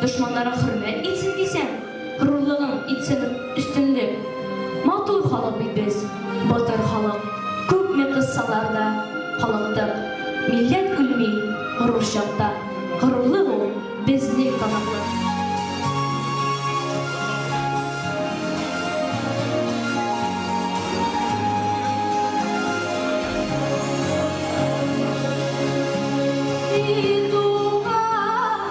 Дошманнарың хөрмәт итсен дисәң, Горурлыгың итсен өстенлек. Матур халык бит без, батыр халык, Күпме кыссалар да халыктык. Милләт үлми горур чакта, Горурлык ул безнең таныклык.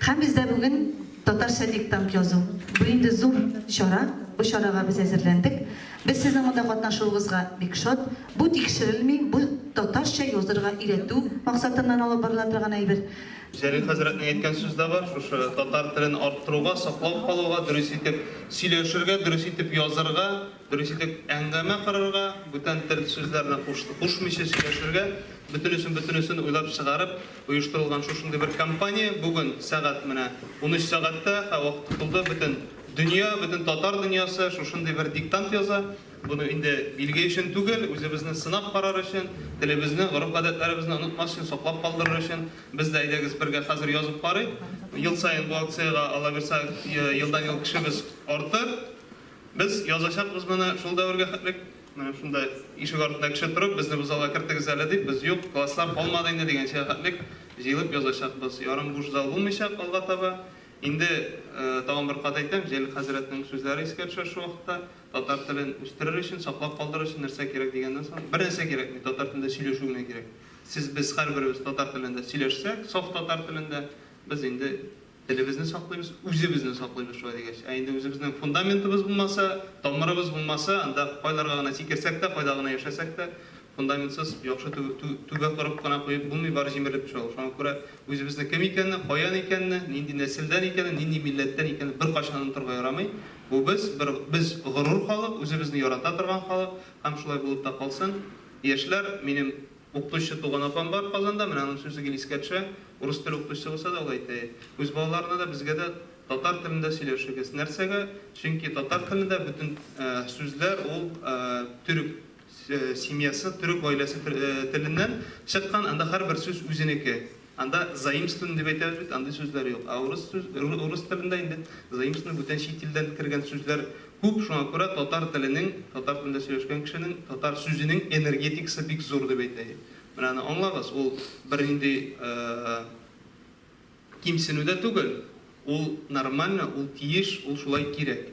Һәм бездә бүген татарча диктант язу. Бу инде зур чара, бу чарага без әзерләндек. Без сезнең монда катнашуыгызга бик шат. Бу тикшерелми, бу татарча язырга өйрәтү максатыннан алып барыла торган әйбер. Җәлил хәзрәтнең әйткән сүз дә бар, шушы татар телен арттыруга, саклап калуга, дөрес итеп сөйләшергә, дөрес итеп язырга. Дөрес итеп әңгәмә корырга, бүтән тел сүзләрне кушмыйча сөйләшергә, бөтенесен-бөтенесен уйлап чыгарып оештырылган шушындый бер кампания бүген сәгать менә унөч сәгатьтә, һәр вакыт тотылды, бөтен дөнья, бөтен татар дөньясы шушындый бер диктант яза. Буны инде билге өчен түгел, үзебезне сынап карар өчен, телебезне, гореф-гадәтләребезне онытмас өчен, саклап калдырыр өчен. Без дә әйдәгез бергә хәзер язып карыйк. Ел саен бу акциягә, аллабирса, елдан-ел кешебез артыр. Без язачакбыз моны шул дәвергә хәтлек. Менә шунда ишек артында кеше торып, безне бу залга кертегез әле дип, без, юк, класслар калмады инде дигәнчегә хәтлек җыелып язачакбыз. Ярым буш зал булмыйчак алга таба. Инде, тагын бер кат әйтәм, Җәлил хәзрәтнең сүзләре искә төшә шул вакытта, татар телен үстерер өчен, саклап калдырыр өчен нәрсә кирәк дигәннән соң, бернәрсә кирәкми, татар телендә сөйләшү генә кирәк. Сез, без һәрберебез татар телендә сөйләшсәк, саф татар телендә, без инде Телебезне саклыйбыз, үзебезне саклыйбыз шулай дигәч. Ә инде үзебезнең фундаментыбыз булмаса, тамырыбыз булмаса, анда кайларга гына сикерсәк тә, кайда гына яшәсәк тә, фундаментсыз яхшы түбә корып кына куеп булмый, бары җимерелеп төшә ул. Шуңа күрә үзебезнең кем икәнне, каян икәнне, нинди нәселдән икәнен, нинди милләттән икәнен беркайчан онытырга ярамый. Бу без, без горур халык, үзебезне ярата торган халык һәм шулай булып та калсын. Яшьләр, минем Укытучы туган апам бар Казанда, менә аның сүзе гел искә төшә. Урыс теле укытучысы булса да, ул әйтә, Үз балаларына да, безгә дә татар телендә сөйләшегез. Нәрсәгә? Чөнки татар телендә бөтен сүзләр ул төрек семьясы, төрек гаиләсе теленнән чыккан, анда һәрбер сүз үзенеке. Анда заимствование дип әйтәбез бит, андый сүзләр юк. Ә урыс сүз, урыс телендә инде заимствование бүтән чит илдән кергән сүзләр күп, шуңа күрә татар теленең, татар телендә сөйләшкән кешенең татар сүзенең энергетикасы бик зур дип әйтә. Менә аны аңлагыз, ул бернинди кимсенү дә түгел, ул нормально, ул тиеш, ул шулай кирәк.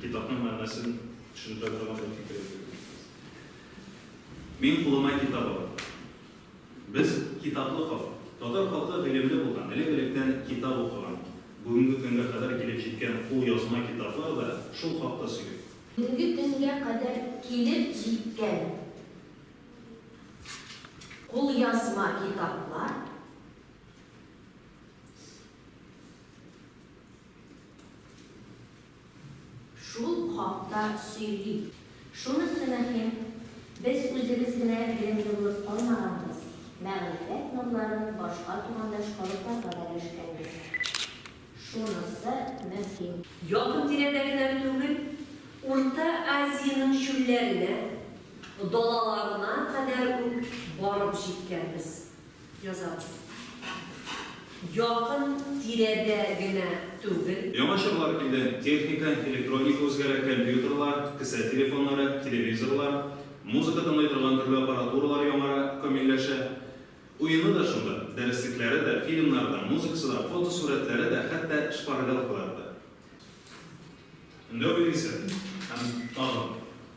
Китапның мәгънәсен төшендерә торган бер фикер әйтеп үтсәгез. Мин кулыма китап алам. Без, китаплы халык. Татар халкы гыйлемле булган, элек-электән китап укыган. Бүгенге көнгә кадәр килеп җиткән кулъязма китаплар да шул хакта сөйли. Бүгенге көнгә кадәр килеп җиткән кулъязма китаплар Шул хакта сөйли. Шунысы мөһим, без үзебез генә грендерлык калмаганбыз, мәгърифәт нурларын башка тугандаш халыкларга да өләшкәнбез. Шунысы мөһим. Якын-тирәдәгеләр түгел, Урта Азиянең чүлләренә, далаларына кадәр үк барып җиткәнбез. Язабыз. Якын тирәдә генә түгел. Яңа чорлар килде, техника, электроника үзгәрә, компьютерлар, кесә телефоннары, телевизорлар, музыка тыңлый торган төрле аппаратуралар яңара, камилләшә. Уены да шунда, дәреслекләре дә, фильмнары да, музыкасы да, фотосурәтләре дә, хәтта шпаргалкалары да. Өндәү билгесе һәм тагын.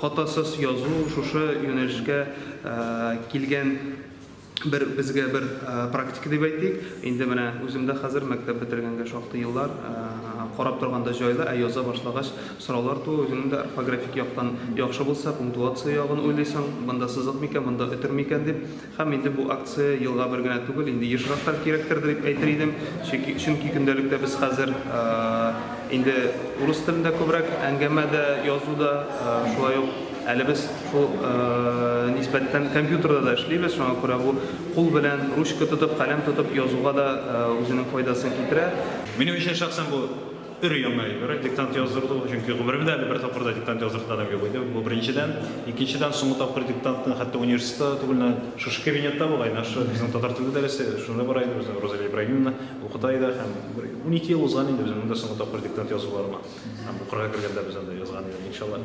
Хатасыз язу шушы юнәлешкә килгән бер безгә бер практика дип әйтик. Инде менә үзем дә хәзер мәктәп бетергәнгә шактый еллар. Карап торганда җайлы, ә яза башлагач сораулар тууы үзеңнең дә орфографик яктан яхшы булса, пунктуация ягын уйлыйсың, монда сызык микән, монда өтер микән дип. Һәм инде бу акция елга бер генә түгел, инде ешрак та кирәктер дип әйтер идем. Чөнки, чөнки көндәлектә без хәзер инде урыс телендә күбрәк әңгәмә дә, язу да, шулай ук әле без шул нисбәттән компьютерда да эшлибез, шуңа күрә бу кул белән ручка тотып, каләм тотып язуга да үзенең файдасын китерә. Минем өчен шәхсән бу Өр-яңа әйбер, диктант яздырды ул, чөнки гомеремдә әле бер тапкыр да диктант яздыртканым юк иде, бу беренчедән. Икенчедән, соңгы тапкыр диктантны хәтта университетта түгел, шушы кабинетта була иде, шушы безнең татар теле дәресе, шунда бара иде, безне Розалия Ибраһимовна укыта иде һәм бер унике ел узган инде безнең монда соңгы тапкыр диктант язуларыма. Һәм укырга кергәндә без анда язган идек, иншалла.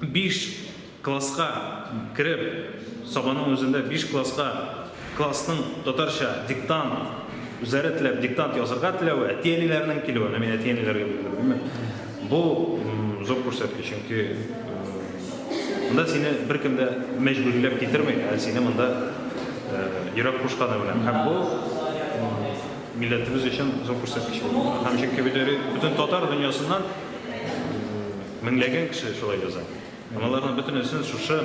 Биш класска кереп, Сабаның үзендә биш класска классның татарча диктант, үзләре теләп диктант язырга теләве, әти-әниләренең килүе, менә мин әти-әниләргә бирдем, димме, бу зур күрсәткеч, чөнки монда сине беркем дә мәҗбүриләп китерми, ә сине монда йөрәк кушканы белән. Һәм бу милләтебез өчен зур күрсәткеч булды. Һәм чөнки бит бөтен татар дөньясыннан Меңләгән кеше шулай яза. Һәм аларның бөтенесен шушы,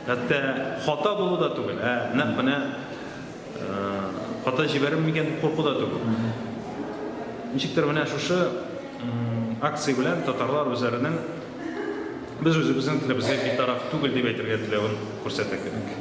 хәтта хата булу да түгел, ә нәкъ менә хата җибәрер микән дип курку да түгел. Ничектер менә шушы акция белән татарлар үзләренең без үзебезнең телебезгә битараф түгел дип әйтергә теләвен күрсәтә кебек.